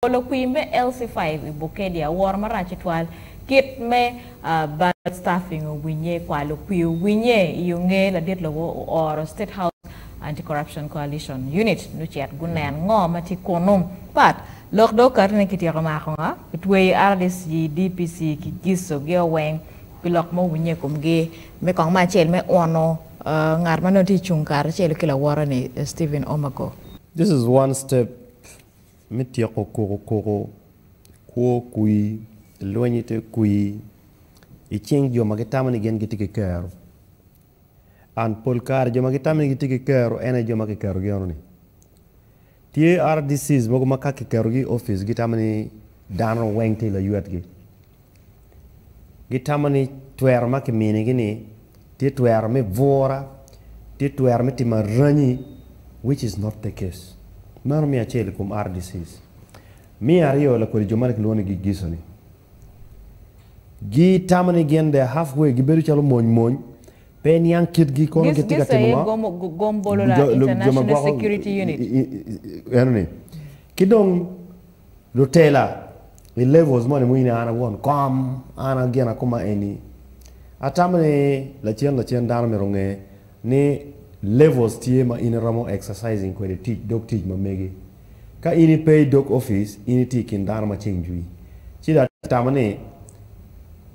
Olo kwir me LC5 i Bukedi aworo marac tutwal kit me Ballot Stuffing owinye, kwalo kwir owinye i onge ladit lobo ooro State House Anti-Corruption Coalition Unit nucit gunen ngo ma tye kunu. Pat. Lok dong okato ni kityeko mako nga, kitweyo rdc, DPC ki giso gi o weng pi lok ma owinye i komgi me kong me acel me uno ngat ma nongo tye cung kare acel ki lawote ni Stephen Omoko. This is one step me tyeko kuku kuku, kwo kwi, lweny i te kwi, i cing jo ma gitamo ni gin gitye ki kero. And pol kare jo ma gitamo ni gitye ki kero en aye jo ma kiketogi eno ni. Tye RDCs mogo ma ka kiketogi i opic gitamo ni dano weng tye laywet gi. Gitamo ni twero ma kiminigi-ni tye twero me bura, tye twero me timo aranyi, which is not the case. Meno me acel i kom RDCs. Me aryo, lakodi jo meno kilwongo ni gigiso-ni. Gitamo ni gin they're half way, gibedo calo mony mony, pe iniang kitgi kono Gis, gitye ka gis timo aye ngo. gom, go- gom bolo la Jo- lo- jo ma International gwoko Security Unit. i- i- i- eno-ni. Ki dong Lutela i levels moni mo in an awon kom an gin akoma eni atamo ni lacen lacen dano myero onge ni levels tye ma in iromo exercising kwede tic dog tic ma mege ka in ipe idog office in itye ikin dano ma ceng jwi ci dong atamo ni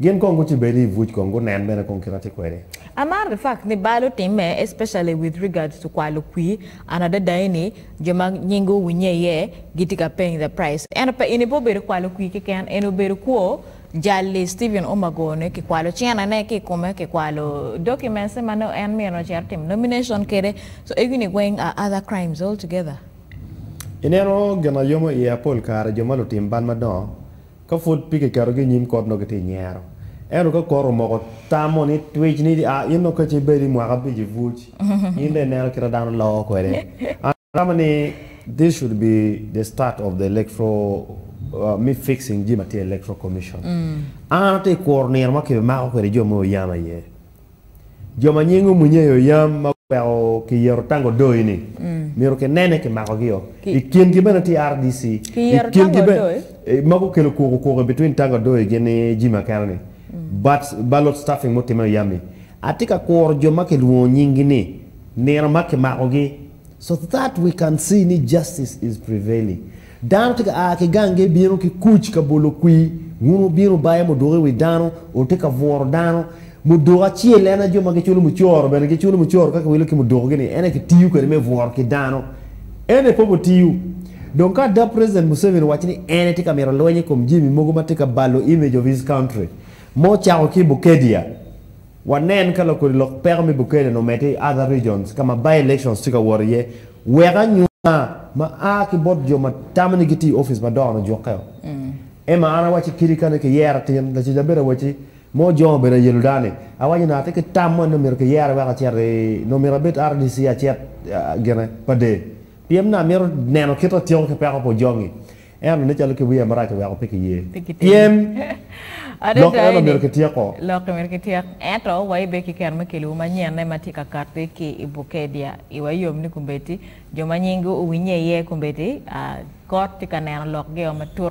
Gin kong gucibedi i buc kong gunen bene kong kit atye kwede. Amaro the fact ni balo time especially with regards to kwalo kwi an adada eni jo ma nyingi owinye iye gitye ka paying the price ento pe eni pe obedo kwalo kwi keken eni obedo kwo jal li Steven Umago ne ki kwalo cene ne ki kome ki kwalo documents ne ma nongo en myero nongo ocito timo nomination kede so egini weng are other crimes all together. Ineno gin ayomo iye apol kare jo ma lutim bal madongo Ka pud pe kiketogi i nyim kot nongo kitye i nyero. Ento ka kot omoko tamo ni twic ni a in nongo kacce ibed i mwaka abic i buc, in dong ineno kit ma dano loko kwede. An atamo ni this should be the start of the electoral me fixing jami ma tye i electoral commission. An atye kuro nino ma kibimako kwede jo me Oyam aye. Jo ma nying omwinye i oyam ma weko kiyero tango doi ni myero kinene kimako gi o. I kin gi bene tye RDC. I kin gi bene ma gukelo kuku kuku i between tango doi gin ni Jimmy Akena ni. But ballot stuffing mutime i oyam ni. Atye ka kuro jo ma kilwongo nying gi ni nino ma kimako gi so that we can see ni justice is prevailing. Dano tye ka a ki gange bino ki kuc ka bolo kwir, wun wubino baye muduko i wi dano, wutye ka bwuro dano. Muduko acel en aye jo ma giculo mucoro bene giculo mucoro ka kiwilo ki mudukogi-ni, en aye kitiyo kwede me bworo ki dano. En aye poko tiyo. Dong ka ada President Museveni owaco ni en aye tye ka mito lweny i kom jami mogo ma tye ka balo image of his country, ma ocako ki i Bukedea, Wanen ka lakodi lok peko me Bukele-ni omedde i other regions ka ma by-elections tye ka wot iye wek anyuka ma a ki bot jo ma tamo ni giti i ofice madongo-ni ojukke-o. Emma, an awacci kadi kani kiyero atin, laco ca bedo awacci, ma ojongo obedo ayelodani, awacci ni atye ki tam moni ni myero kiyere wek acit i, nongo myero abed RDC acit gine pa dee. Pien ni amito neno kit atyeko ki peko pa Ojongi. En ononne calo ki wiye marac oweko pe kiye. Pien lok eno myero kityeko. Lok myero kityek. Ento wa ibe ki kero me keliwu manyenne ma tye ka katti ki i Bukedya. Iwa yom ni kombeddi jo ma nyinggi owinnye iye kombeddi, aa, kot tye ka neno lokgi-o matut.